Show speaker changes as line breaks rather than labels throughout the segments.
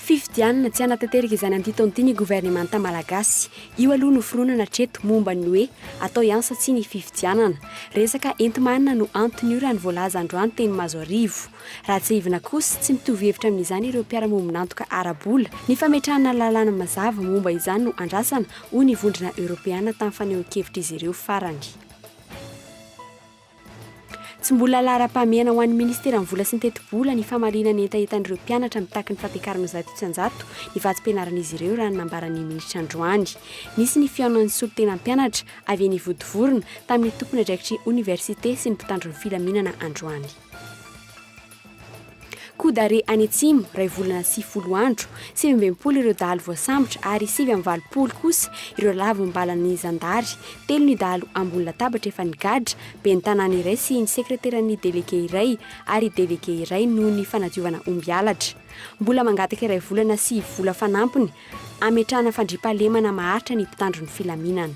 Fifidianana tsy hanatanteraka izany amin'ity taona ity ny governemanta malagasy. Io aloha no fironana hatreto momba ny hoe atao ihany sa tsia ny fifidianana. Resaka enti-manana no anton'io raha ny voalaza androany teny Mazoarivo. Raha tsiahivina kosa, tsy mitovy hevitra amin'izany ireo mpiara-mombon'antoka ara-bola. Ny fametrahana lalàna mazava momba izany no andrasana hoy ny Vondrona Eoropeana tamin'ny fanehoan-kevitr'izy ireo farany. Tsy mbola laharam-pahamehana ho an'ny Ministeran'ny Vola sy ny Tetibola ny famaliana ny hetahetan'ireo mpianatra mitaky ny fampiakarana zato isan-jato ny vatsim-pianaran'izy ireo raha ny nambaran'ny minisitra androany. Nisy ny fihaonan'ny solontenam-pianatra avy eny Ivodivorona tamin'ny tompon'andraikitry oniversite sy ny mpitandro ny filaminana androany. Kodare any Atsimo, iray volana sy folo andro. Sivy amby enimpolo ireo dahalo voasambotra ary sivy amby valopolo kosa ireo lavim-balan'ny zandary. Telo ny dahalo ambony latabatra efa nigadra, ben'ny tanàna iray sy ny sekreteran'ny delege iray ary delege iray noho ny fanadiovana omby halatra. Mbola mangataka iray volana sy vola fanampiny hametrahana fandriampahalemana maharitra ny mpitandro ny filaminana.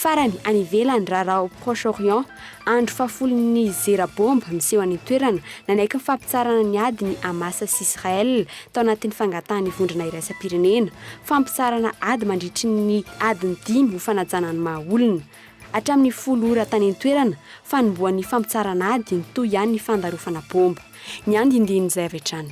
Farany, any ivelany, raharaha ao Proche-Orient, andro fahafolon'ny zera baomba miseho any an-toerana, nanaiky ny fampitsarana ny ady ny Hamas sy Israel tao anatin'ny fangatahan'ny vondrona iraisam-pirenena fampitsarana ady mandritry ny adiny dimy ho fanajana ny maha olona. Hatramin'ny folo ora tany an-toerana, fanombohan'ny fampitsarana ady, nitohy ihany ny fandarofana baomba. Ny andindinin'izay avy hatrany.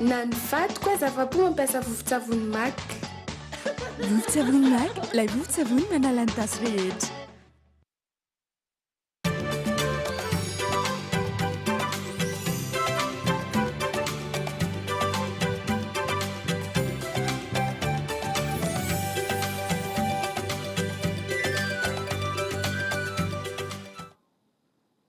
Na ny vato koa aza afa-po mampiasa vovon-tsavony mac.
Vovon-tsavony mac, ilay vovon-tsavony manala ny tasy rehetra.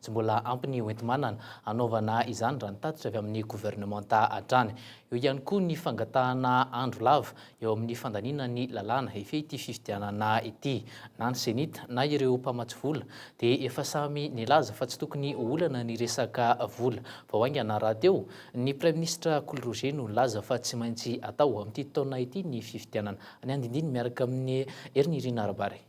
Tsy mbola ampy ny hoenti-manana hanaovana izany raha ny tatitra avy amin'ny governemanta hatrany. Eo ihany koa ny fangatahana andro lava eo amin'ny fandaniana ny lalàna hifehy ity fifidianana ity. Na ny Cenit na ireo mpamatsy vola dia efa samy nilaza fa tsy tokony ho olana ny resaka vola vao haingana rahateo. Ny praiminisitra Kolo Roger no nilaza fa tsy maintsy atao amin'ity taona ity ny fifidianana. Ny andinindiny miaraka amin'i Heriniry Narabary.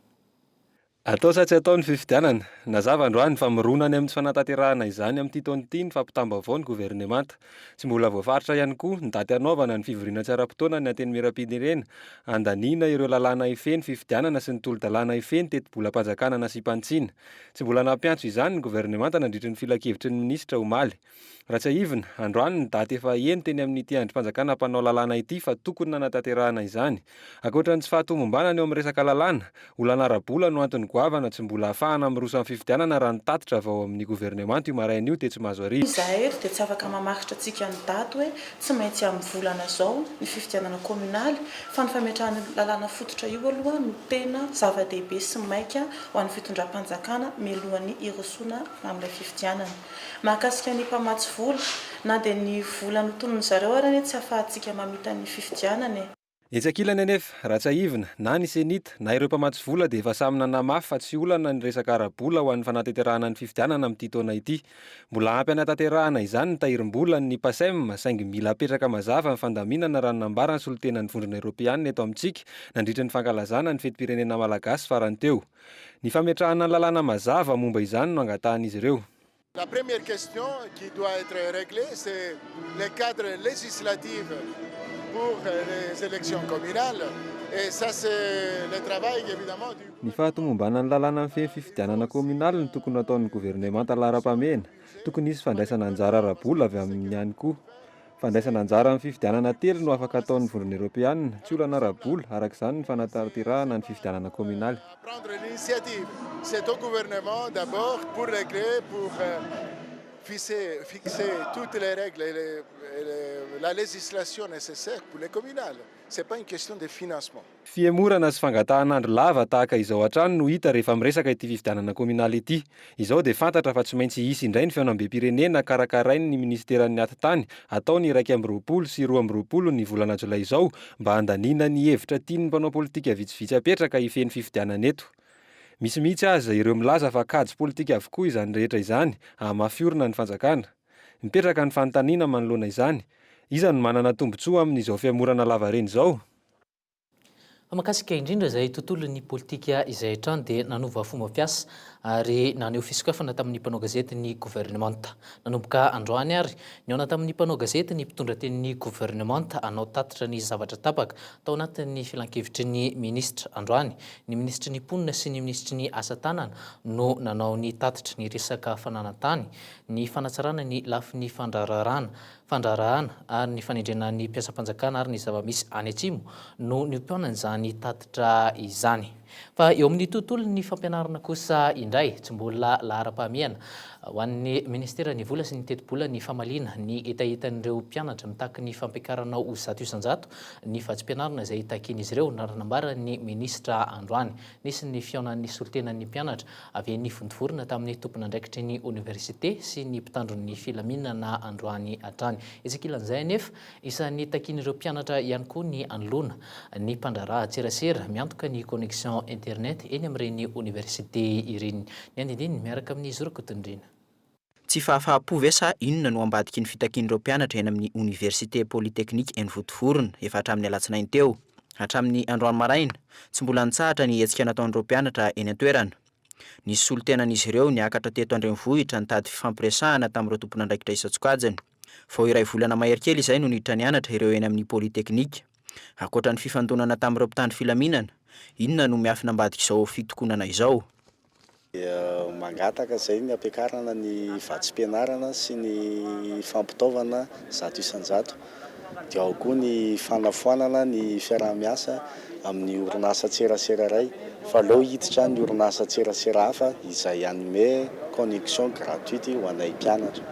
Atao
sa tsy atao ny fifidianana? Nazava androany fa mirona any amin'ny tsy fanatanterahana izany amin'ity taona ity ny fampitam-baovao ny governemanta. Tsy mbola voafaritra ihany koa ny daty hanaovana ny fivoriana tsy ara-potoana ny Antenimierampirenena handaniana ireo lalàna hifehy ny fifidianana sy ny tolo-dalàna hifehy ny tetibolam-panjakana nasiam-panitsiana. Tsy mbola nampiantso izany ny governemanta nandritry ny filankevitry ny minisitra omaly. Raha tsiahivina, androany ny daty efa heno teny amin'ity andrim-panjakana mpanao lalàna ity fa tokony nanatanterahana izany. Ankoatra ny tsy fahatomombanana eo amin'ny resaka lalàna, olana ara-bola no antony goavana tsy mbola hahafahana miroso amin'ny fifidianana raha nitatitra vao amin'ny governemanta io maraina io tetsy Mahazoarivo. Izahay eto dia tsy afaka
mamaritra antsika ny daty hoe tsy maintsy amin'ny volana izao ny fifidianana kaominaly fa ny fametrahana io lalàna fototra io aloha no tena zava-dehibe sy maika ho an'ny fitondram-panjakana mialohan'ny hirosoana amin'ilay fifidianana. Mahakasika ny mpamatsy vola, na dia ny vola notonony zareo ary anie tsy afahantsika mamita ny fifidianana e. Etsy ankilany anefa,
raha tsiahivina, na ny Cenit, na ireo mpamatsy vola dia efa samy nanamafy fa tsy olana ny resaka ara-bola ho an'ny fanateterahana ny fifidianana amin'ity taona ity. Mbola ampy hanatanterahana izany ny tahirim-bolan' ny Pacem saingy mila apetraka mazava ny fandaminana raha ny nambaran'ny solontenan'ny Vondrona Eoropeana eto amintsika nandritra ny fankalazana ny fetim-pirenena malagasy farany teo. Ny fametrahana ny lalàna mazava momba izany no angatahan'izy ireo. La première
question qui doit être reglée c'est le cadre législatif pour les élections communales et ça c'est le travail évidemment du. Ny fahatomombanana ny
lalàna mifehy ny fifidianana kaominaly no tokony hataon'ny governemanta laharam-pahamehana. Tokony hisy fandraisana anjara ara-bola avy aminy ihany koa. Fandraisana anjara amin'ny fifidianana telo no afaka ataon'ny Vondrona Eoropeana, tsy olana ara-bola, araka izany ny fanatanterahana
ny fifidianana kaominaly. Fihemorana sy
fangatahan'andro lava tahaka izao hatrany no hita rehefa miresaka ity fifidianana kaominaly ity. Izao dia fantatra fa tsy maintsy hisy indray ny fihaonambem-pirenena karakarain'ny minisiteran'ny Atitany hatao ny iraika amby roapolo sy roa amby roapolo ny volana jolay izao mba handaniana ny hevitra tian'ny mpanao politika vitsivitsy apetraka hifehy ny fifidianana eto. Misy mihitsy aza ireo milaza fa kajy politika avokoa izany rehetra izany hahamafy orina ny fanjakana. Mipetraka ny fanontaniana manoloana izany, iza no manana tombontsoa amin'izao fihemorana lavareny izao?
Mahakasika indrindra izay tontolon'ny politika izay hatrany dia nanova fomba fiasa ary naneho fisokafana tamin'ny mpanao gazety ny governemanta. Nanomboka androany ary, nihaona tamin'ny mpanao gazety ny mpitondra tenin'ny governemanta hanao tatitra ny zavatra tapaka tao anatin'ny filankevitry ny minisitra. Androany, ny minisitry ny Mponina sy ny minisitry ny Asa tanana no nanao ny tatitra. Niresaka fananan-tany, ny fanatsarana ny lafiny fandraharahana, fandraharahana ary ny fanendrena ny mpiasam-panjakana ary ny zava-misy any Atsimo no niompianan' izany tatitra izany. Fa eo amin'ny tontolon'ny fampianarana kosa indray, tsy mbola laharam-pahamehana ho an'ny Ministeran'ny Vola sy ny Tetibola ny famaliana ny hetahetan'ireo mpianatra mitaky ny fampiakarana ho zato isan-jato ny vatsim-pianarana izay takian'izy ireo, raha nambaran'ny minisitra androany. Nisy ny fihaonan'ny solontenan'ny mpianatra Avy eny Vontovorona tamin'ny tompon'andraikitry ny oniversite sy ny mpitandron'ny filaminana androany hatrany. Etsy ankilan'izay anefa, isan'ny takian'ireo mpianatra ihany koa ny hanoloana ny mpandraharaha an-tserasera miantoka ny connexion internet eny amin'ireny oniversite ireny. Ny andinindininy miaraka amin'i Zoro Kotondrina. Tsy
fahafahampo ve sa inona no ambadiky ny fitakian'ireo mpianatra eny amin'ny Oniversite Polytechnique eny Votovorona efa hatramin'ny alatsinainy teo? Hatramin'ny androany maraina, tsy mbola nitsahatra ny hetsika nataon'ireo mpianatra eny an-toerana. Nisy solontenan'izy ireo niakatra teto an-drenivohitra nitady fifampiresahana tamin'ireo tompon'andraikitra isan-tsokajiny. Vao iray volana mahery kely izay no niditra nianatra ireo eny amin'ny Polytechnique. Ankoatra ny fifandonana tamin'ireo mpitandro filaminana, inona no miafina ambadik'izao fitokonana izao? dia mangataka
izay ny hampiakarana ny vatsim-pianarana sy ny fampitaovana zato isan-jato, dia ao koa ny fanafoanana ny fiaraha-miasa amin'ny orinasantserasera iray fa aleo hiditra ny orinasantserasera hafa izay hanome connexion gratuite ho anay mpianatra.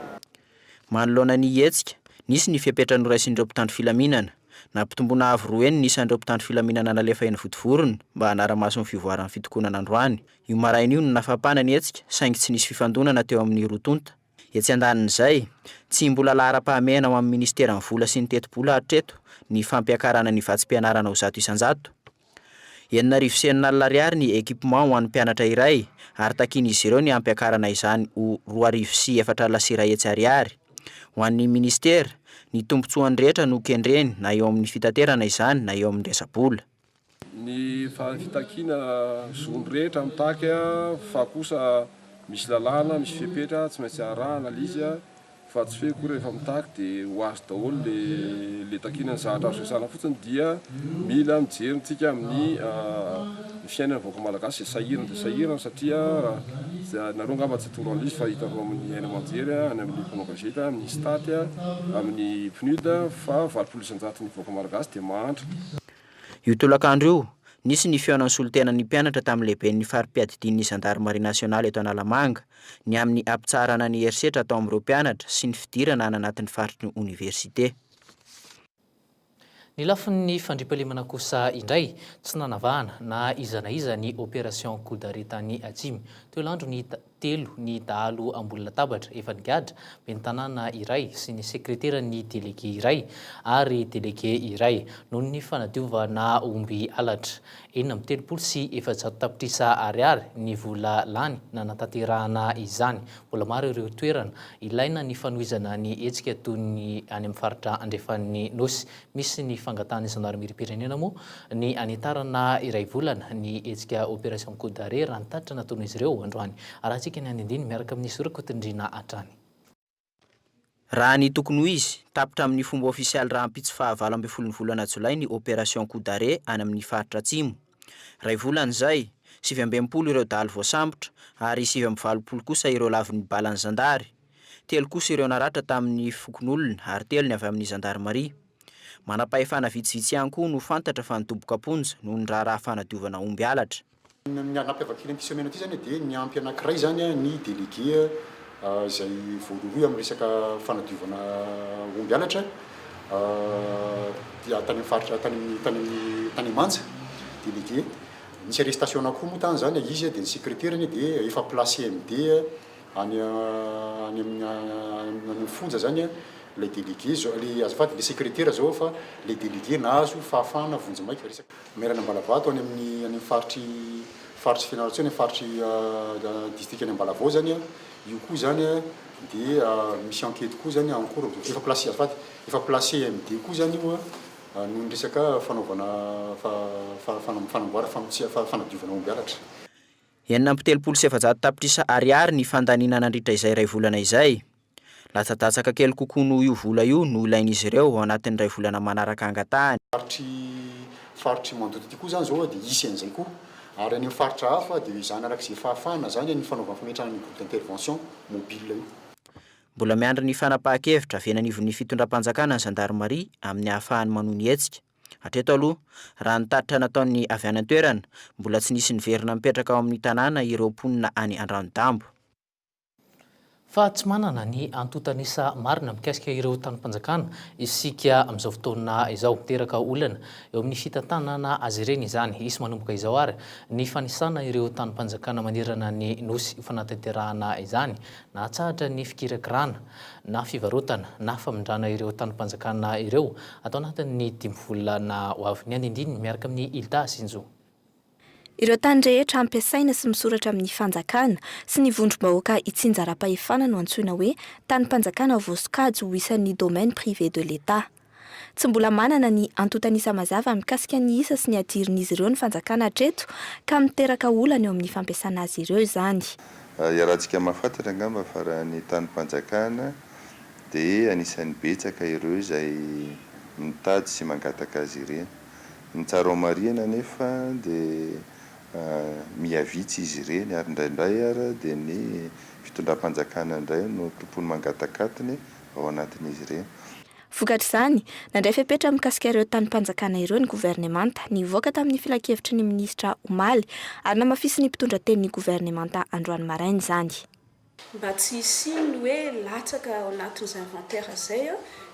Manoloana
ny hetsika, nisy ny fepetra noraisin'ireo mpitandro filaminana. Nampitomboina avo roa heny ny isan'ireo mpitandro filaminana nalefa eny Vontovorona mba hanara-maso ny fivoaran'ny fitokonana androany. Io maraina io no nafampana ny hetsika saingy tsy nisy fifandonana teo amin'ny roa tonta. Etsy andanin'izay, tsy mbola laharam-pahamehana ho amin'ny Minisiteran'ny Vola sy ny Tetibola hatreto ny fampiakarana ny vatsim-pianarana ho zato isan-jato. Enina arivo sy enina alina ariary ny équipement ho an'ny mpianatra iray ary takian'izy ireo ny hampiakarana izany ho roa arivo sy efatra alina sy iray hetsy ariary. Ho an'ny minisitera, ny tombontsoan'ny rehetra no kendreny na eo amin'ny fitaterana izany na eo amin'ny resa-bola. Ny
fitakiana zon'ny rehetra mitaky fa kosa misy lalàna, misy fepetra tsy maintsy arahana, Liz. Fa tsy fehiko rehefa mitaky dia ho azy daholo le le takiana ny zavatra azo resahana fotsiny dia mila mijery ntsika amin'ny ny fiainan'ny vahoaka malagasy izay sahirana dia sahirana satria nareo angamba tsy toro an'l'izy fa hitanareo amin'ny haino aman-jery any amin'ny mpanao gazety amin'ny stat amin'ny pnud fa valopolo isan-jato ny vahoaka malagasy dia mahantra Io
tolakandro io, nisy ny fihaonan'ny solontenan'ny mpianatra tamin'ny lehiben'ny fari-piadidian'ny zandarimaria nasionaly eto Analamanga, ny amin'ny hampitsaharana ny herisetra atao amin'ireo mpianatra sy ny fidirana any anatin'ny faritry ny oniversite.
Ny lafin'ny fandriampahalemana kosa indray, tsy nanavahana na iza na iza ny Opération Coup d'arrêt tany Atsimo, teo Landro ny hita. telo ny dahalo ambony latabatra efa nigadra, ben'ny tanàna iray sy ny sekreteran'ny delege iray ary delege iray, noho ny fanadiovana omby halatra. Enina amby telopolo sy efajato tapitrisa ariary ny vola lany nanatanterahana izany. Mbola maro ireo toerana ilaina ny fanohizana ny hetsika toy ny any amin'ny faritra andrefan'ny Nosy. Misy ny fangatahan'ny zandarimeriam-pirenena moa ny hanitarana iray volana ny hetsika Opération Coup d'arrêt, raha ny tatitra nataon'izy ireo androany. Arahantsika ny andinindiny miaraka amin'i Zoro Kotondrina hatrany.
Raha ny tokony ho izy, tapitra amin'ny fomba ofisialy rahampitso faha valo ambin'ny folon'ny volana jolay ny Opération Coup d'arrêt any amin'ny faritra Atsimo. Iray volana izay, sivy amby enimpolo ireo dahalo voasambotra ary sivy amby valopolo kosa ireo lavon'ny balan'ny zandary. Telo kosa ireo naratra tamin'ny fokonolona ary telo ny avy amin'ny zandarimaria. Manam-pahefana vitsivitsy ihany koa no fantatra fa nidoboka am-ponja noho ny raharaha fanadiovana omby halatra. Ny anampiavak'ilay
mpiseo mena ity izany dia ny ampy anankiray izany ny délégué izay voarohirohy amin'ny resaka fanadiovana omby halatra dia tany amin'ny faritra tany amin'ny tany amin'ny Tanemanja délégué nisy arrestation anankiroa moa tany izany izy dia ny secrétaire-ny dia efa place CMD any any amin'ny any amin'ny fonja izany ilay délégué izao ilay azafady ilay secrétaire izao fa ilay délégué nahazo fahafahana vonjy maika resaka Maire-ny Ambalavato any amin'ny any amin'ny faritry faritry Fianarantsoa any amin'ny faritry distrikan'i Ambalavao zany a, io koa zany a dia misy enquête koa zany en cours efa place azafady efa place MD koa zany io a noho ny resaka fanaovana fa fa fana fanamboara famotsiha fa fanadiovana omby halatra. Enina amby telopolo
sy efajato tapitrisa Ariary ny fandaniana nandritra izay iray volana izay. Latsadatsaka kely kokoa noho io vola io no ilain'izy ireo ao anatin'ny iray volana manaraka angatahany. Faritry
faritry Mandoto ity koa zany zao a dia hisy an'izay koa. Ary any amin'ny faritra hafa dia izany araka izay fahafahana zany ny fanaovana fametrahana an'io groupe d'intervention mobile io. Mbola miandry
ny fanapahan-kevitra avy eny anivon'ny fitondram-panjakana ny zandarimaria amin'ny ahafahany manohy ny hetsika. Hatreto aloha, raha ny tatitra nataon'ny avy any an-toerana, mbola tsy nisy niverina mipetraka ao amin'ny tanàna ireo mponina any Andranodaombo.
Fa tsy manana ny antontan'isa marina mikasika ireo tanim-panjakana isika amin'izao fotoana izao. Miteraka olana eo amin'ny fitantanana azy ireny izany. Hisy manomboka izao àry ny fanisana ireo tanim-panjakana manerana ny Nosy ho fanatanterahana izany nahatsahatra ny fikirakirana na fivarotana na famindrana ireo tanim-panjakana ireo ato anatin'ny dimy volana ho avy. Ny andindininy miaraka amin'i Hilda Sinjo. Ireo
tany rehetra hampiasaina sy misoratra amin'ny fanjakana sy ny vondrom-bahoaka itsinjaram-pahefana no antsoina hoe tanim-panjakana ao voasokajy ho isan'ny domaine privé de l'Etat. Tsy mbola manana ny antontan'isa mazava mikasika ny isa sy ny hadirin'izy ireo ny fanjakana hatreto ka miteraka olana eo amin'ny fampiasana azy ireo izany. Iarahantsika
mahafantatra angamba fa raha ny tanim-panjakana dia anisan'ny betsaka ireo izay mitady sy mangataka azy ireny. Ny tsara ao Marihana anefa dia miha vitsy izy ireny ary indraindray ary dia ny fitondram-panjakana indray no tompony mangatakatony ao anatin'izy ireny. Vokatr'izany,
nandray fepetra mikasika ireo tanim-panjakana ireo ny governemanta, nivoaka tamin'ny filankevitry ny minisitra omaly, ary namafisin'ny mpitondra tenin'ny governemanta androany maraina izany. Mba tsy
hisian'ny hoe latsaka ao anatin'izay inventaire izay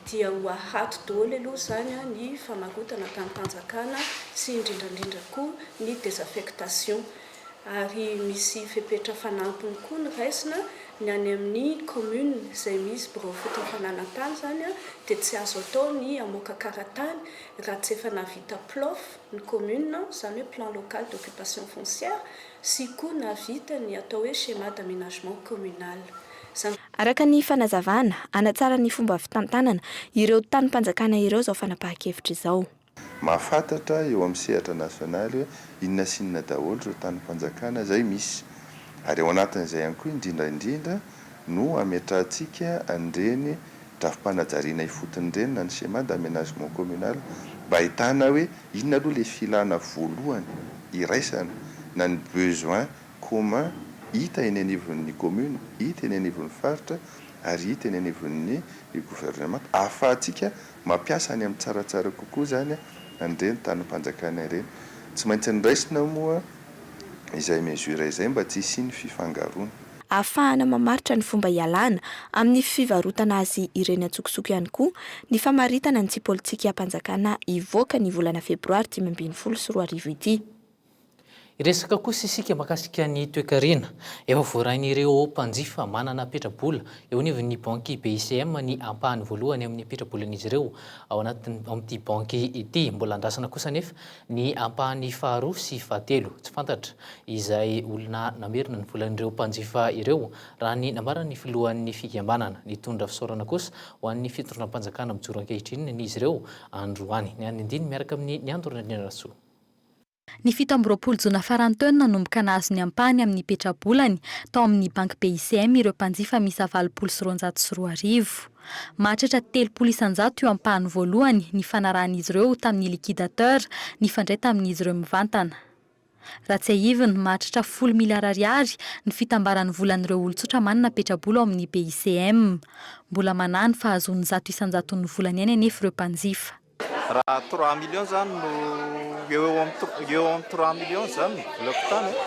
dia ho ahato daholo aloha izany ny famarotana tamim-panjakana sy indrindra indrindra koa ny désaffectation. Ary misy fepetra fanampiny koa noraisina, ny any amin'ny commune izay misy birao fotom-panana tany izany dia tsy azo atao ny hamoaka karatany raha tsy efa nahavita PLOF ny commune, izany hoe plan local d'occupation foncière, sy koa nahavita ny atao hoe schéma d'aménagement communal. Zany. Araka
ny fanazavana, hanatsara ny fomba fitantanana ireo tanim-panjakana ireo izao fanapahan-kevitra izao. Mahafantatra
eo amin'ny sehatra nasionaly hoe inona sy inona daholo ireo tanim-panjakana izay misy. Ary ao anatin'izay ihany koa indrindra indrindra no hametrahantsika an'ireny drafi-panajariana ifotony ireny na ny schéma d'aménagement communal mba hahitana hoe Inona aloha le filana voalohany iraisana na ny besoin commun hita eny anivon'ny commune, hita eny anivon'ny faritra ary hita eny anivon'ny gouvernement ahafahantsika mampiasa any amin'ny tsaratsara kokoa zany an'ireny tanim-panjakana ireny. Tsy maintsy niraisina moa izay mesure izay mba tsy hisian'ny fifangaroana. Ahafahana
mamaritra ny fomba hialana amin'ny fivarotana azy ireny an-tsokosoko ihany koa ny famaritana ny tsy politikiam-panjakana hivoaka ny volana febroary dimy ambin'ny folo sy roa arivo ity. Hiresaka
kosa isika mahakasika ny toekarena. Efa voarain'ireo mpanjifa manana petra-bola eo anivon'ny banky BICM ny ampahany voalohany amin'ny petra-bolan'izy ireo ao anatin'ny, ao amin'ity banky ity. Mbola andrasana kosa anefa Ny ampahany faharoa sy fahatelo tsy fantatra izay olona namerina ny volan'ireo mpanjifa ireo, raha ny nambaran'ny filohan'ny fikambanana. Nitondra fisaorana kosa ho an'ny fitondram-panjakana mijoro ankehitriny ny izy ireo androany. Ny an'ny andininy miaraka amin'i Niandoro Randrianarantsoa. Ny
fito amby roapolo jona faran'ny teo no nanomboka nahazo ny ampahany amin'ny petra-bolany tao amin'ny banky BICM ireo mpanjifa miisa valopolo sy roanjato sy roa arivo. Mahatratra telopolo isan-jato io ampahany voalohany nifanarahan'izy ireo tamin'ny liquidateur nifandray tamin'izy ireo mivantana. Raha tsiahivina, mahatratra folo miliara ariary ny fitambaran'ny volan'ireo olon-tsotra manana petrabola ao amin'ny BICM. Mbola manahy ny fahazoany zato isan-jaton'ny volany ihany anefa ireo mpanjifa. Raha trois
millions izany no eo eo amin'ny tr- eo amin'ny trois millions izany ny bloc tany a,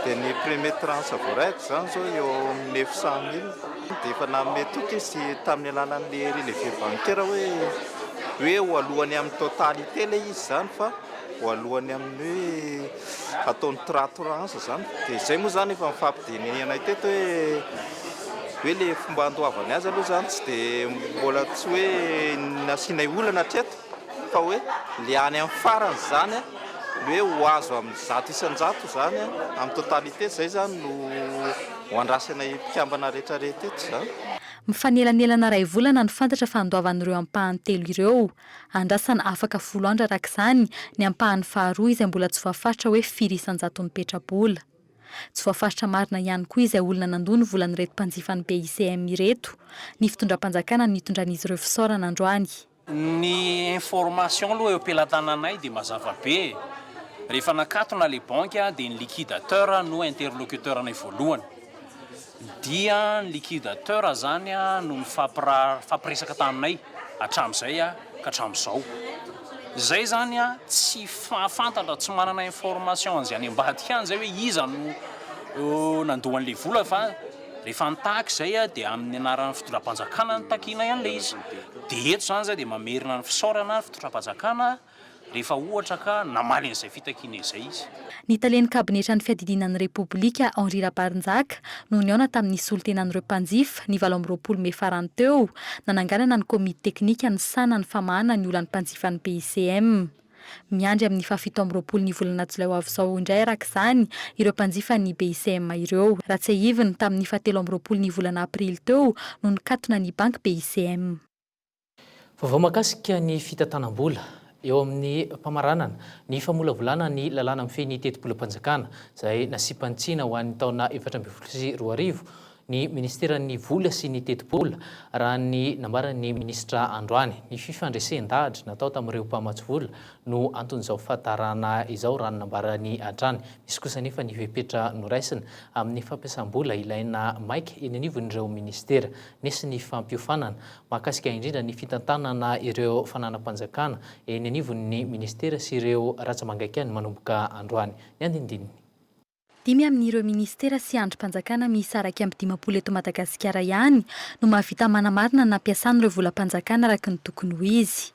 dia ny premier tranche voaray izany izao eo amin'ny neuf cent mille. Dia efa nanome toky izy tamin'ny alalan'ny relevé bancaire hoe hoe ho aloany amin'ny totalité ilay izy izany fa ho aloany amin'ny hoe. Ataony tra trans zany dia zay moa zany efa nifampidenehanay teto hoe hoe le fomba andoavany azy aloha zany tsy de mbola tsy hoe nasianay olana hatreto fa hoe le any amin'ny farany zany hoe ho azo amin'ny zato isan-jato zany amin'ny totalité zay zany no ho andrasanay mpikambana rehetra rehetra eto zany. Mifanelanelana
iray volana no fantatra fa andoavan'ireo ampahany telo ireo. Andrasana afaka folo andro araka izany ny ampahany faharoa izay mbola tsy voafaritra hoe firy isan-jaton'ny petra-bola. Tsy voafaritra marina ihany koa izay olona nandoa ny volan'ireto mpanjifan'ny BICM ireto, ny fitondram-panjakana no nitondran'izy ireo fisaorana androany. Ny
information aloha eo am-pelatananay dia mazava be e! Rehefa nakatona ilay banky dia ny liquidateur no interlocuteur-nay voalohany. Dia ny liquidateur zany no mifampiresaka taminay hatramin'izay ka hatramin'izao. Izay zany tsy fantatra, tsy manana information an'izay any ambadika any izay hoe iza no nandoa an'ilay vola fa rehefa nitaky izay dia amin'ny anaran'ny fitondram-panjakana no takianay an'ilay izy. Dia eto izany izay dia mamerina ny fisaorana ny fitondram-panjakana. rehefa ohatra ka namaly an'izay fitakiana izay izy. Ny talen'ny kabinetran'ny
fiadidiana ny Repoblika, Henri Rabarinjaka, no nihaona tamin'ny solontenan'ireo mpanjifa, ny valo amby roapolo mey farany teo, nananganana ny komity teknika nisahana ny famahana ny olan'ny mpanjifan'ny BICM. Miandry amin'ny fahafito amby roapolo ny volana jolay ho avy izao indray araka izany ireo mpanjifan'ny BICM ireo. Raha tsiahiviny, tamin'ny fahatelo amby roapolo ny volana aprily teo no nikatona ny banky BICM.
Vaovao mahakasika ny fitantanam-bola eo amin'ny famaranana ny famolavolana ny lalàna mifehy ny tetibolam-panjakana izay nasiam-panj tsina ho an'ny taona efatra ambin'ny folo sy roa arivo ny minisiteran'ny Vola sy ny tetibola, raha ny nambaran'ny minisitra androany. Ny fifandresen-dahatra natao tamin'ireo mpamatsy vola no anton'izao fahatarana izao, raha ny nambarany hatrany. Misy kosa anefa ny fepetra noraisina amin'ny fampiasam-bola ilaina maika eny anivon'ireo minisitera. Nisy ny fampiofanana mahakasika indrindra ny fitantanana ireo fananam-panjakana eny anivon'ny minisitera sy ireo ratsa-mangaikan'ny manomboka androany. Ny andinindininy. Dimy
amin'ireo minisitera sy andrim-panjakana miisa iraika amby dimampolo eto Madagasikara ihany no mahavita manamarina ny nampiasany ireo volam-panjakana araka ny tokony ho izy.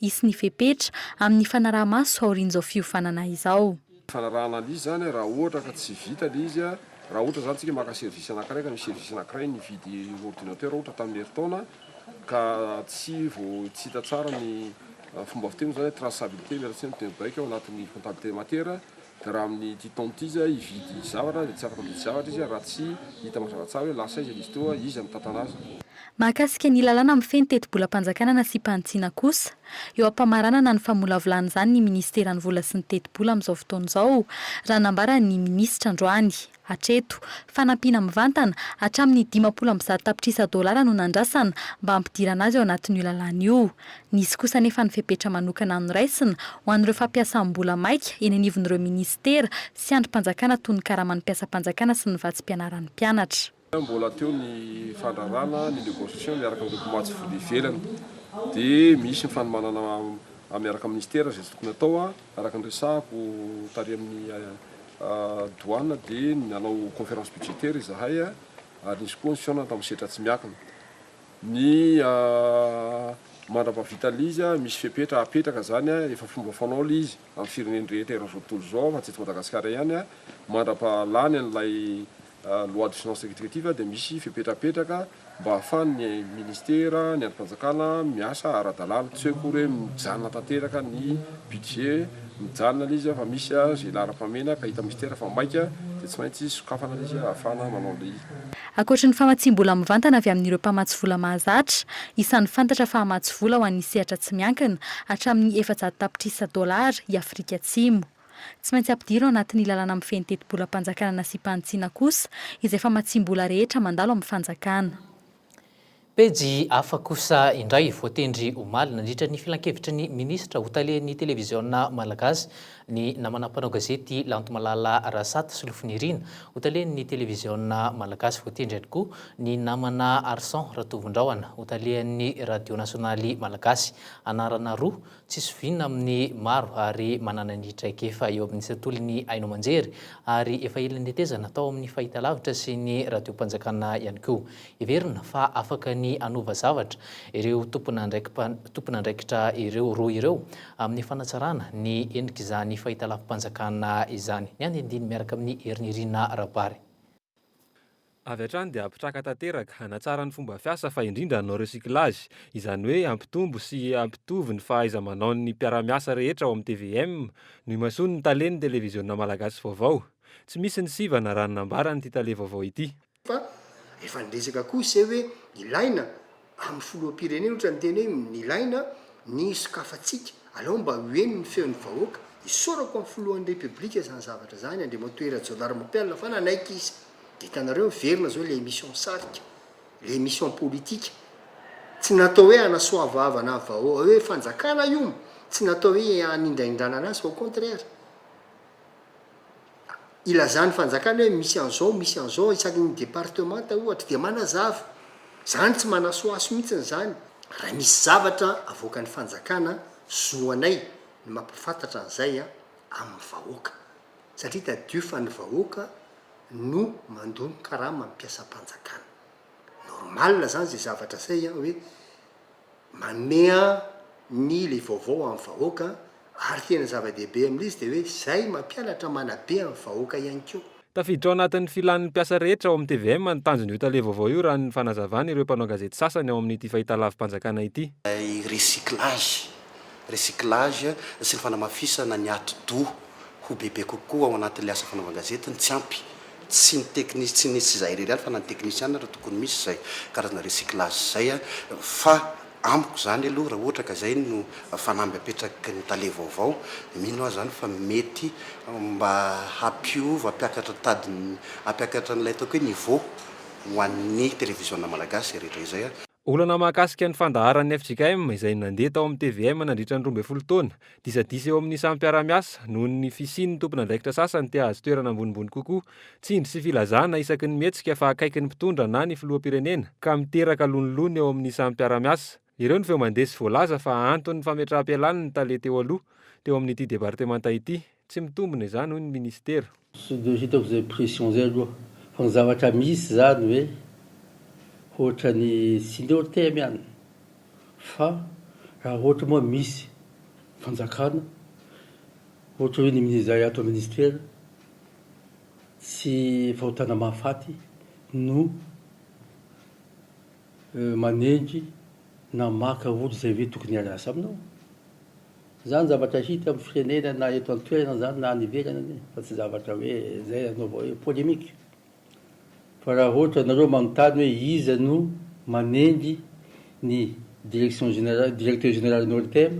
hisy ny fepetra amin'ny fanaraha-maso aorian'izao fiofanana izao. Fanarahana an'lzy
izany raha ohatra ka tsy vita ilay izy, raha ohatra izany tsika maka service anankiray ka misy service anankiray nividy ordinateur ohatra tamin'ny herintaona ka tsy vao tsy hita tsara ny fomba fiteny moa izany hoe traçabilité miala tsiny ny teny baiko ao anatin'ny comptabilité matière Raha amin'ny ity taona ity izy hividy zavatra dia tsy afaka mividy zavatra izy raha tsy hita mazava tsara hoe lasa aiza ilay izy teo, iza mitantana azy. Mahakasika ny
lalàna mifehy ny tetibolam-panjakana nasiam-pahantsiana kosa, eo am-pamaranana ny famolavolana izany ny minisiteran'ny vola sy ny tetibola amin'izao fotoana izao, raha nambaran'ny minisitra androany. Hatreto, fanampiana mivantana hatramin'ny dimampolo amby zato tapitrisa dolara no nandrasana mba hampidirana azy ao anatin'io lalàna io. Nisy kosa anefa ny fepetra manokana noraisina ho an'ireo fampiasam-bola maika eny anivon'ireo minisitera sy andrim-panjakana toy ny karaman'ny mpiasam-panjakana sy ny vatsim-pianaran'ny mpianatra. Mbola teo ny
fandrarana ny negociation miaraka amin'ireo mpamatsy vola ivelany dia misy ny fanomanana miaraka amin'ny minisitera izay tokony hatao. Araka ny resahako tary amin'ny douane dia nanao conférence budgétaire izahay ary nisy koa ny fihaonana tamin'ny setra tsy miankina. Ny mandra-pahavitan'ilay izy, misy fepetra apetraka izany, efa fomba fanao ilay izy amin'ny firenena rehetra eran'izao tontolo izao fa tsy eto Madagasikara ihany, mandra-pahalany an'ilay Loi de finances rectificative dia misy fepetrapetraka mba hahafahan' ny Ministera, ny andrim-panjakana miasa ara-dalàna. Tsy hoe akory hoe mijanona tanteraka ny budget, mijanona ilay izy fa misy izay laharam-pahamehana ka hitan'ny Ministera fa maika dia tsy maintsy sokafana ilay izy hahafahana manao ilay. Ankoatry ny
famatsiam-bola mivantana avy amin'ireo mpamatsy vola mahazatra, isan'ny fantatra fa hamatsy vola ho an'ny sehatra tsy miankina, hatramin'ny efajato tapitrisa dolara, i Afrika Atsimo. Tsy maintsy ampidiro ao anatin'ny lalàna mifehy ny tetibolam-panjakana nasiam-panitsiana kosa izay famatsiam-bola rehetra mandalo amin'ny fanjakana.
Pejy hafa kosa indray, voatendry omaly nandritra ny filankevitry ny minisitra ho talehan'ny televiziona malagasy ny namana mpanao gazety Lantomalala Rasata sy Lofonirina ho talehan'ny televiziona malagasy, voatendry ihany koa ny namana Arson Ratovondrahona ho talehan'ny radio nasionaly malagasy, anarana roa tsy zoviana amin'ny maro ary manana ny traikefa eo amin'ny sekoly ny haino aman-jery ary efa ela nitetezana tao amin'ny fahitalavitra sy ny radiom-panjakana ihany koa. Heverina fa afaka ny hanova zavatra ireo tomponandraikitra ireo roa ireo amin'ny fanatsarana ny endrik'izany fahitalavi-panjakana izany. Ny andinindiny miaraka amin'i Herinirina Rabary.
Avy hatrany dia hampitraka tanteraka, hanatsara ny fomba fiasa fa indrindra hanao recyclage, izany hoe hampitombo sy hampitovy ny fahaiza-manaon'ny mpiara-miasa rehetra ao amin'ny tvm, noimasoany ny talen'ny televiziona malagasy vaovao. Tsy misy ny sivana raha ny nambaran'ity tale vaovao ity. Fa
efa niresaka koa ise hoe ilaina Amin'ny filoham-pirenena ohatra niteny hoe nilaina ny sokafantsika, alao mba ho heno ny feon'ny vahoaka, isaorako amin'ny filohan'ny Repoblika izany zavatra izany, Andriamatoa Rajaonarimampianina fa nanaiky izy, dia hitanareo miverina izao ilay émission sarika, ilay émission politika, tsy natao hoe hanasoavavana vahoa, hoe fanjakana iom, tsy natao hoe hanindraindrana anazy fa au contraire. ilazan'ny fanjakana hoe misy an'izao, misy an'izao, isaky ny departemanta ohatra, dia manazava. Izany tsy manasohaso mihitsy izany. Raha misy zavatra avoakan'ny fanjakana, zo anay ny mampahafantatra an'izay amin'ny vahoaka. Satria tadidio fa ny vahoaka no mandoa ny karama amin'ny mpiasam-panjakana. Normal izany izay zavatra izay hoe Manea ny le vaovao amin'ny vahoaka ary tena zava-dehibe amin'ilay izy dia hoe izay mampianatra manabe amin'ny vahoaka ihany koa. Tafiditra ao anatin'ny
filan'ny mpiasa rehetra ao amin'ny tvm ny tanjon'io tale vaovao io raha ny fanazavan' ireo mpanao gazety sasany ao amin'ity fahitalavi-panjakana ity. Ilay recyclage,
recyclage, sy ny fanamafisana ny ati-doha ho bebe kokoa ao anatin'ilay asa fanaovan-gazety no tsy ampy Tsy ny teknis tsy ny tsy izahay irery ihany fa na ny teknisiana ary tokony misy izay karazana recyclage izay a! fa amiko izany aloha raha ohatra ka izay no fanamby apetraky ny tale vaovao mino aho izany fa mety mba hampiova hampiakatra tady ny hampiakatra an'ilay ataoko hoe niveau ho an'ny televiziona malagasy izay rehetra izay a! Olana mahakasika
ny fandaharan'ny fjkm izay nandeha tao amin'ny tvm nandritra ny roa ambin'ny folo taona. Disadisa eo amin'ny samy mpiara-miasa noho ny fisian'ny tompon'andraikitra sasany te hahazo toerana ambonimbony kokoa. Tsindry sy filazana isaky ny mihetsika fa akaiky ny mpitondra na ny filoham-pirenena ka miteraka lonilony eo amin'ny samy mpiara-miasa. Ireo no feo mandeha sy voalaza fa anton'ny fametraham-pialàn'ny tale teo aloha teo amin'ity departemanta ity. Tsy mitombina izany hoy ny minisitera. Tsy dia hitako izay
pression izay aloha. Fa ny zavatra misy izany hoe ohatran'ny tsy ny OTM ihany fa raha ohatra moa misy fanjakana ohatra hoe ny izay ato minisitera tsy fahotana mahafaty no manenjy na maka olo zay ve tokony hiala asa aminao? zany zavatra hita am firenena na eto an toerana zany na any ivelany anie fa tsy zavatra hoe zay anaova hoe polemique fa raha ohatra nareo manontany hoe iza no manenjy ny direction generale directeur general ny ortem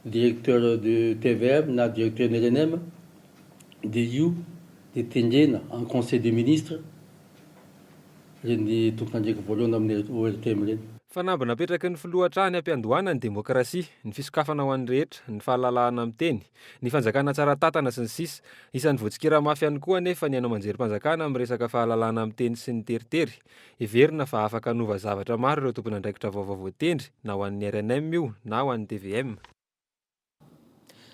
directeur de tvm na directeur ny rnm de io de tendrena en conseil de ministre ireny tompon'andraikitra voalohany amin'ny ORTM ireny. Fanamby napetraky ny
filoha hatrany am-piandohana ny demokrasia, ny fisokafana ho an'ny rehetra, ny fahalalahana miteny, ny fanjakana tsara tantana sy ny sisa Isan'ny voatsikera mafy ihany koa anefa ny haino aman-jerim-panjakana amin'ny resaka fahalalahana miteny sy ny teritery. Heverina fa afaka hanova zavatra maro ireo tompon'andraikitra vaovao voatendry na ho an'ny rnm io na ho an'ny tvm.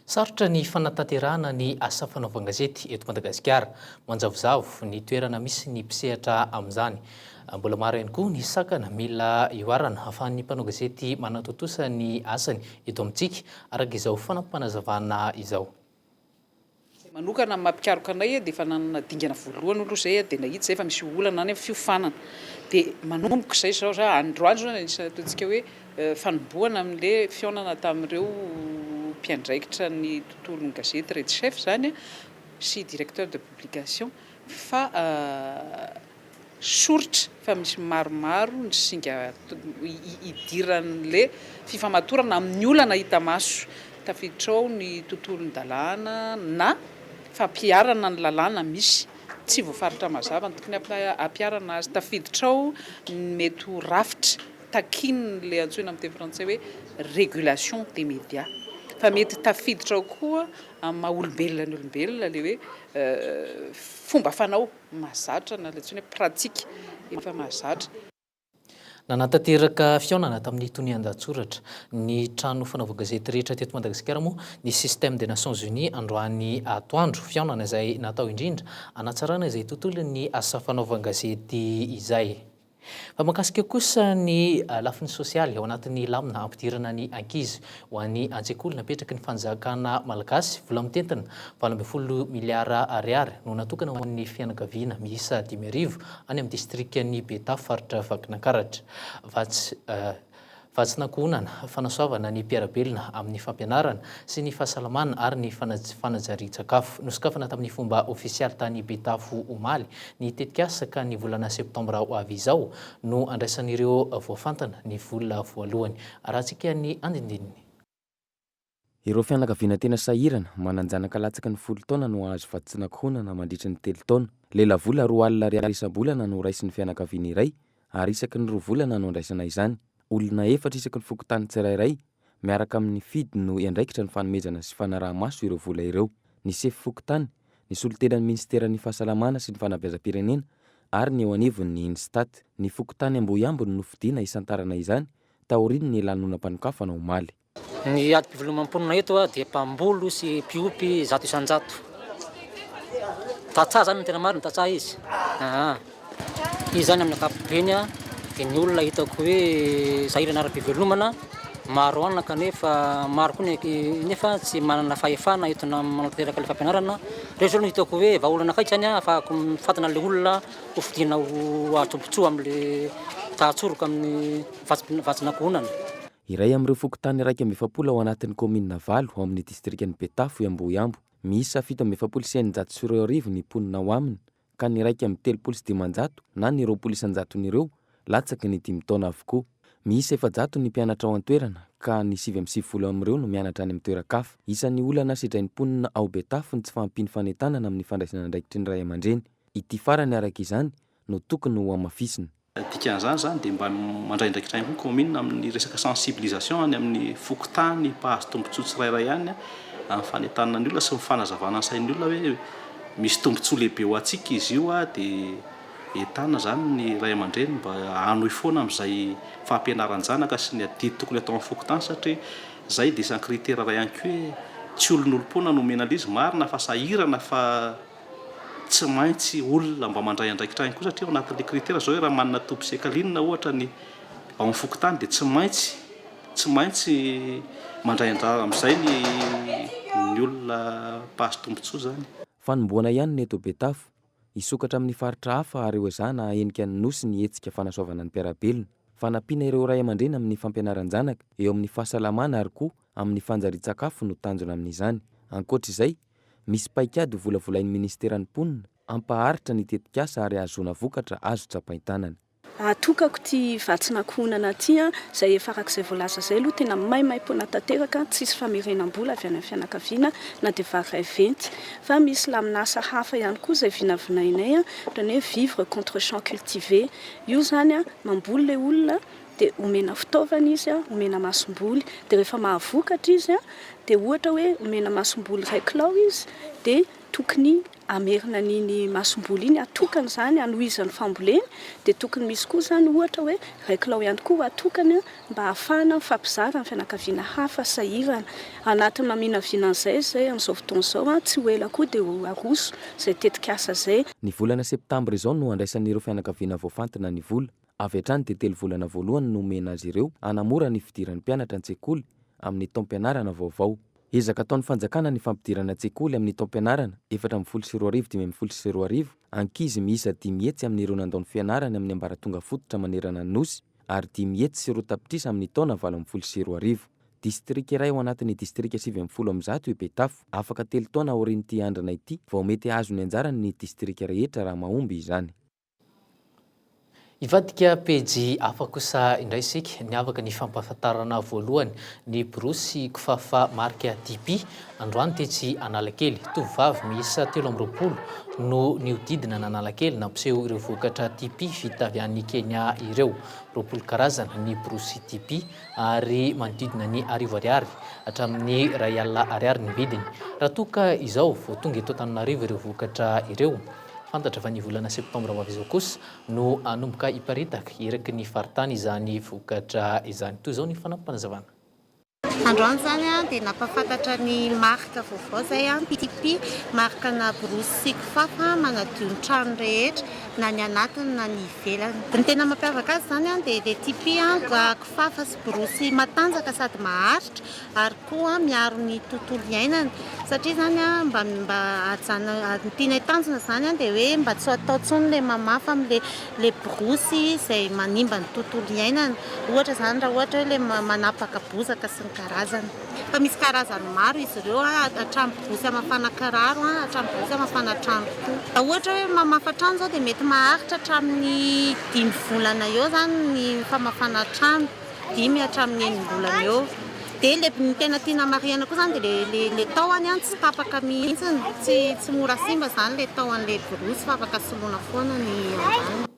Sarotra ny fanatanterahana ny asa fanaovan-gazety eto Madagasikara. Manjavozavo ny toerana misy ny mpisehatra amin'izany. Mbola maro ihany koa ny sakana mila ihoarana ahafahan'ny mpanao gazety manatontosa ny asany eto amintsika, araka izao fanapanazavana izao. Izay
manokana ny maha-mpikaroka anay dia efa nanana dingana voalohany aloha izay dia nahita izay fa misy olana any amin'ny fiofanana dia manomboka izay izao za androany izao no anisany ataontsika hoe fanombohana amin'ilay fihaonana tamin'ireo mpiandraikitra ny tontolon'ny gazety Red Chef izany sy directeur de publication fa Soritra fa misy maromaro ny singa hidiran'le fifamatorana amin'ny olana hita maso. Tafiditra ao ny tontolon-dalàna na fampiharana ny lalàna misy. Tsy voafaritra mazava ny tokony hampiharana azy. Tafiditra ao ny mety ho rafitra takian'le antsoina amin'ny teny frantsay hoe régulation des médias. Fa mety tafiditra ao koa amin'ny maha olombelona ny olombelona le hoe fomba fanao. mahazatra na ilay antsoina hoe pratique efa mahazatra. Nanatanteraka
fihaonana tamin'ny tonian-dahatsoratra, ny trano fanaova gazety rehetra teto Madagasikara moa ny Système des Nations Unies androany atoandro, fihaonana izay natao indrindra hanatsarana izay tontolon'ny asa fanaovan-gazety izay. Fa mahakasika kosa ny lafiny sosialy ao anatin'ny lamina hampidirana ny ankizy ho any an-tsekoly, napetraky ny fanjakana malagasy vola mitentina valo ambin'ny folo miliara ariary no natokana ho an'ny fianakaviana miisa dimy arivo any amin'ny distrikan'i Betafo faritra Vakinankaratra. Vatsin'ankohonana, fanasoavana ny mpiara-belona amin'ny fampianarana sy ny fahasalamana ary ny fanajarian-tsakafo. Nosokafana tamin'ny fomba ofisialy tany Betafo omaly ny tetikasa ka ny volana septambra ho avy izao no andraisan'ireo voafantina ny vola voalohany. Arahantsika ny andinindininy.
Ireo fianakaviana tena sahirana, manan-janaka latsaky ny folo taona no hahazo vatsin'ankohonana mandritry ny telo taona. Lelavola roa alina ariary isam-bolana no raisin'ny fianakaviana iray, ary isaky ny roa volana no andraisana izany. Olona efatra isaky ny fokontany tsirairay, miaraka amin'ny FIDH no hiandraikitra ny fanomezana sy fanaraha-maso ireo vola ireo. Ny sefo fokontany, ny solontenan'ny minisiteran'ny Fahasalamana sy ny Fanabeazam-pirenena ary ny eo anivon'ny INSTAT. Ny fokontany Ambohiambo no nofidina hisantarana izany taorian'ny lanonam-panokafana omaly. Ny adim-pivelomam
ponina eto dia mpamboly sy mpiompy zato isan-jato. Tantsaha izany no tena marina, tantsaha izy. Aa. Izy izany amin'ny ankapobeny dia ny olona hitako hoe sahirana ara-pivelomana, maro anaka nefa maro koa nefa tsy manana fahefana entina manatanteraka ilay fampianarana. Ireo izao no hitako hoe vahaolana akaiky izany ahafahako mifantina ilay olona. Hofidiana ho ady tombontsoa amin'ilay tahan-tsoroka amin'ny vatsin'ankohonana. Iray
amin'ireo fokontany iraika amby efapolo ao anatin'ny kaominina valo ao amin'ny distrikan'i Betafo i Ambohiambo. Miisa fito amby efapolo sy eninjato sy roa arivo ny mponina ao aminy ka ny iraika amby telopolo sy dimanjato na ny roapolo isan-jaton'ireo latsaky ny dimy taona avokoa. Miisa efajato ny mpianatra ao an-toerana ka ny sivy amby sivifolo amin'ireo no mianatra any amin'ny toeran-kafa. Isan'ny olana sedrain'ny mponina ao Betafo ny tsy fahampian'ny fanentanana amin'ny fandraisana andraikitry ny ray aman-dreny. Ity farany araka izany no tokony ho hamafisina. Dikan'izany izany
dia mba mandraindraikitra ihany koa ny kaominina amin'ny resaka sensibilisation any amin'ny fokontany mpahazo tombontsoa tsirairay any amin'ny fanentanana ny olona sy ny fanazavana ny sain'ny olona hoe misy tombontsoa lehibe ho antsika izy io dia entanina izany ny ray aman-dreny mba hanohy foana amin'izay fampianaran-janaka sy ny adidy tokony atao amin'ny fokontany satria izay dia isan-kritera iray ihany koa hoe tsy olon'olom-poana no omena an'le izy, marina fa sahirana fa Tsy maintsy olona mba mandray andraikitra ihany koa satria ao anatin'ilay critère zao hoe raha manana toby sy ekalina ohatra ny ao amin'ny fokontany dia tsy maintsy tsy maintsy mandray andrara amin'izay ny ny olona mpahazo tombontsoa izany. Fanombohana ihany ny
eto Betafo. Hisokatra amin'ny faritra hafa ary hoezahana hahenika ny Nosy ny hetsika fanasoavana ny mpiara-belona. Fanampiana ireo ray aman-dreny amin'ny fampianaran-janaka eo amin'ny fahasalamana ary koa amin'ny fanjarian-tsakafo no tanjona amin'izany. Ankoatra izay, Misy paikady ho volavolain'ny Ministeran'ny Mponina hampaharitra ny tetikasa ary hahazoana vokatra azo tsapain-tanana. Atokako
ity vatsin'ankohonana ity an! Izay efa arak'izay voalaza izay aloha tena maimaim-poana tanteraka, tsisy famerenam-bola avy any amin'ny fianakaviana na dia vary iray venty. Fa misy lamin'asa hafa ihany koa izay vinavinainay an! Ohatran'ny hoe vivre contre champs cultivés. Io izany an! Mamboly ilay olona. dia omena fitaovana izy, omena masomboly, dia rehefa mahavokatra izy dia ohatra hoe omena masomboly iray kilao izy dia tokony hamerina an'iny masomboly iny, hatokana izany hanohizan'ny famboleny, dia tokony misy koa izany ohatra hoe iray kilao ihany koa hatokana mba hahafahana mifampizara amin'ny fianakaviana hafa sahirana. Anatin'ny maminavina an'izay izay amin'izao fotoana izao, tsy ho ela koa dia ho aroso izay tetikasa izay. Ny volana septambra
izao no handraisan'ireo fianakaviana voafantina ny vola. Avy hatrany dia telo volana voalohany no omena azy ireo hanamora ny fidiran'ny mpianatra an-tsekoly amin'ny taom-pianarana vaovao. Ezaka ataon'ny fanjakana ny fampidirana an-tsekoly amin'ny taom-pianarana efatra ambin'ny folo sy roa arivo dimy ambin'ny folo sy roa arivo ankizy miisa dimy hetsy amin'ireo nandao ny fianarany amin'ny ambaratonga fototra manerana ny Nosy ary dimy hetsy sy roa tapitrisa amin'ny taona valo ambin'ny folo sy roa arivo. Distrika iray ao anatin'ny distrika sivy ambin'ny folo amby zato i Betafo. Afaka telo taona aorian'ity andrana ity vao mety hahazo ny anjarany ny distrika rehetra raha mahomby izany.
Hivadika pejy hafa kosa indray isika. Niavaka ny fampahafantarana voalohany ny borosy kifafa marika Dipi. Androany tetsy Analakely, tovovavy miisa telo amby roapolo no nihodidina an'Analakely nampiseho ireo vokatra Dipi vita avy any Kenya ireo. Roapolo karazana ny borosy Dipi ary manodidina ny arivo ariary hatramin'ny iray alina ariary ny vidiny. Raha toa ka izao vao tonga eto Antananarivo ireo vokatra ireo, Fantatra fa ny volana septambra ho avy izao kosa no hanomboka hiparitaka eraky ny faritany izany vokatra izany. Toy izao ny fanampim-panazavana. Androany
izany dia nampahafantatra ny marika vaovao izay, PTP, marika ana borosy sy kifafa manadio ny trano rehetra na ny anatiny na ny ivelany. Ny tena mampiavaka azy izany dia le TP, kifafa sy borosy matanjaka sady maharitra. ary koa miaro ny tontolo iainana satria izany mba mba ajana ny tianay tanjona izany dia hoe mba tsy hatao intsony ilay mamafa amin'ilay ilay borosy izay manimba ny tontolo iainana ohatra izany raha ohatra hoe ilay manapaka bozaka sy ny karazany fa misy karazany maro izy ireo hatramin'ny borosy hamafana kiraro an hatramin'ny borosy hamafana trano koa raha ohatra hoe mamafa trano izao dia mety maharitra hatramin'ny dimy volana eo izany ny famafana trano dimy hatramin'ny enim-bolana eo dia ilay ny tena tiana marihina koa izany dia ilay ilay tahony an tsy tapaka mihitsy tsy tsy mora simba izany ilay tahon'ilay borosy fa afaka soloina foana ny ambaniny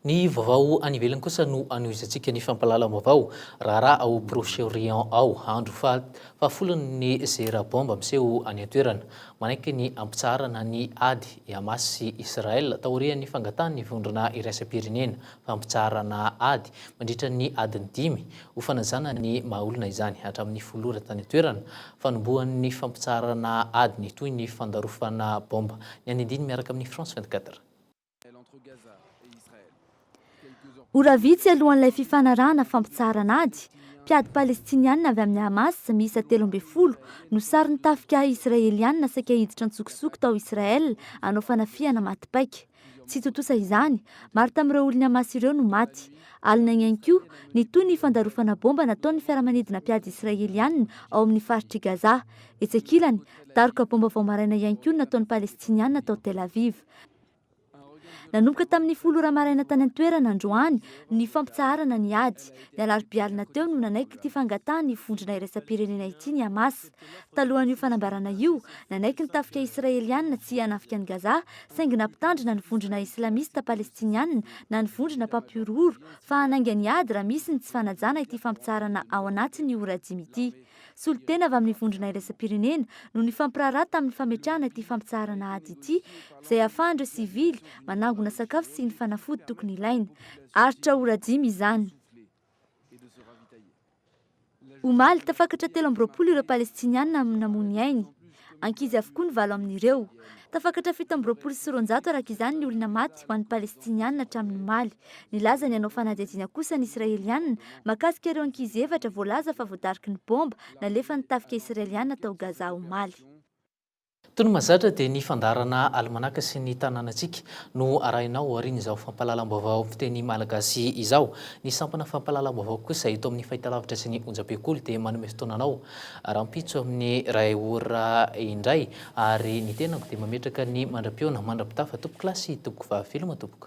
Ny vaovao any ivelany kosa no anohizantsika ny fampahalalam-baovao raharaha ao Proche-Orient ao. Andro faha fahafolony ny zera baomba miseho any an-toerana. Manaiky ny hampitsaharana ny ady i Hamas sy Israel taorian'ny fangatahan'ny vondrona iraisam-pirenena fampitsaharana ady mandritra ny adiny dimy ho fanajana ny maha olona izany hatramin'ny folo ora tany an-toerana, fanombohan'ny fampitsaharana ady ny toy ny fandarofana baomba. Ny any andiny miaraka amin'ny France vingt quatre.
Ora vitsy alohan'ilay fifanarahana fampitsaharana ady, mpiady Palestiniana avy amin'ny Hamas miisa telo ambin'ny folo no saron'ny tafika Israeliana saika hiditra an-tsokosoko tao Israel hanao fanafihana maty paika. Tsy tontosa izany, maro tamin'ireo olon'i Hamas ireo no maty. Alina ihany koa, nitohy ny fandarofana baomba nataon'ny fiaramanidina mpiady Israeliana ao amin'ny faritr'i Gaza. Etsy ankilany, daroka baomba vao maraina ihany koa no nataon'ny Palestiniana tao Tel Aviv. Nanomboka tamin'ny folo ora maraina tany an-toerana androany ny fampitsaharana ny ady. Ny alarobia alina teo no nanaiky ity fangatahan'ny vondrona iraisam-pirenena ity ny Hamas. Talohan'io fanambarana io, nanaiky ny tafika Israeliana tsy hanafika an'i Gaza, saingy nampitandrina ny vondrona Islamista Palestiniana na ny vondrona mpampihorohoro fa hanainga ny ady raha misy ny tsy fanajana ity fampitsaharana ao anatin'ny ora dimy ity. Solontena avy amin'ny Vondrona Iraisam-pirenena no nifampiraharaha tamin'ny fametrahana ity fampitsaharana ady ity, izay hahafahan'ireo sivily manangona sakafo sy ny fanafody tokony ilaina. Aritra ora dimy izany. Omaly, tafakatra telo amby roapolo ireo Palestiniana no namoy ny ainy.
Ankizy avokoa ny valo amin'ireo. Tafakatra fito amby roapolo sy roanjato araka izany ny olona maty ho an'ny Palestiniana hatramin'ny omaly. Nilaza ny hanao fanadihadiana kosa ny Israeliana mahakasika ireo ankizy efatra voalaza fa voadariky ny baomba nalefan'ny tafika Israeliana tao Gaza omaly. Toy
ny mahazatra dia ny fandaharana alimanaka sy ny tanànantsika no arahina ao aorian'izao fampahalalam-baovao fiteny malagasy izao. Ny sampana fampahalalam-baovao kosa eto amin'ny fahitalavitra sy ny onjam-pekoly dia manome fotoana anao rahampitso amin'ny iray ora indray ary ny tenako dia mametraka ny mandra-pihaona mandra-pitafa tompokolahy sy tompoko vavy veloma tompoko.